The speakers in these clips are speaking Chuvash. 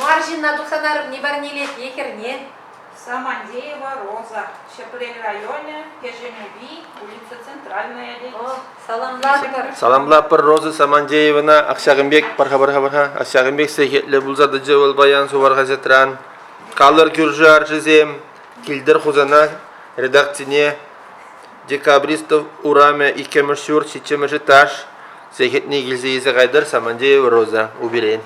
Мар ҫынна тухса тарӑпни парнелет е хӗрне. Самандеева Роза, Ҫӗпрел районӗ, Кӗҫӗнупи, улица Центральная, тет. О, саламлатӑпӑр. Саламлатпӑр Роза Самандеевана ҫакӑн пек пӑрха-пӑрха пӑрха ҫакӑн пек сехетлӗ пулса тӑчӗ вӑл паян сувар хаҫатран. Калӑр кӳршӗ арчисем, килтӗр Хусана редакцине Декабристов урамӗ иккӗмӗш ҫурт ҫиччӗмӗш этаж сехетне килсе илсе кайтӑр Самандеева Роза Уберен.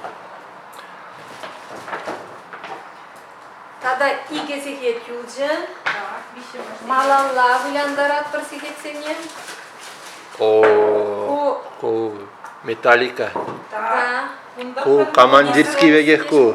Тата икӗ сехет юлчӗ. Малалла вылянтаратпӑр сехетсене. О, ку металлика. Да. Ку командирский пекех ку.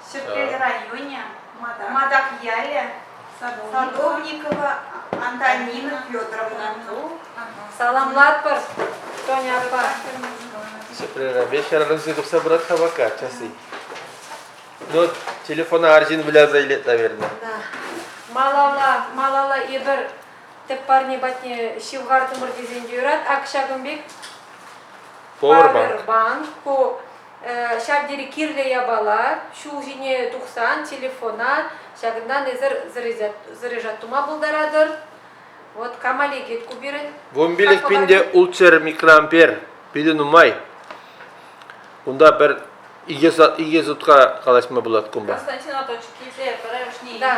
Ҫӗпрел районӗ, Матакьялӗ, Садовникова Антонина Федоровна. Саламлатпӑр, Тоня аппа. Ҫӗпреле хӗрарӑмсем тухса пырать-ха пока часы. Ну, вот телефона арҫын выляса илет, наверное. Да. Малалла, малалла эпир тӗп парне патне ҫывхартӑмӑр тесен те юрать. Ак ҫакӑн пек Powerbank. Powerbank. Ку Ҫав тери кирлӗ япала. Ҫул ҫине тухсан телефона ҫакӑнтан эсир заряжать тума пултаратӑр. Вот камали geht ку пирӗн. Вомбилев пинде ултсер микроампер питӗ нумай. Унта пӗр икӗ сутка калаҫма пулать кунпа. Да,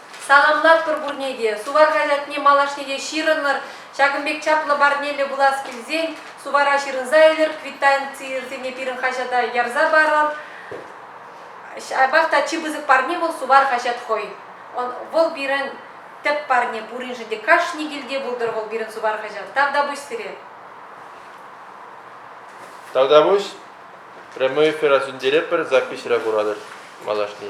Саламлатпӑр пурне те. Суварка ятне малашне те ҫырӑнӑр. Ҫакӑн пек чаплӑ парнеллӗ пулас килсен сувара ҫырӑнса илӗр, квитанцисене пирӗн хаҫата ярса парӑр. Ҫапах та чи пысӑк парне вӑл сувар хаҫат хӑй. Вӑл пирӗн тӗп парне пуриншӗн те. Кашни килте пултӑр вӑл пирӗн сувар хаҫат. Тавтапуҫ сире. Тавтапуҫ. Прямой эфира сӳнтеретпӗр, записьра куратӑр малашне.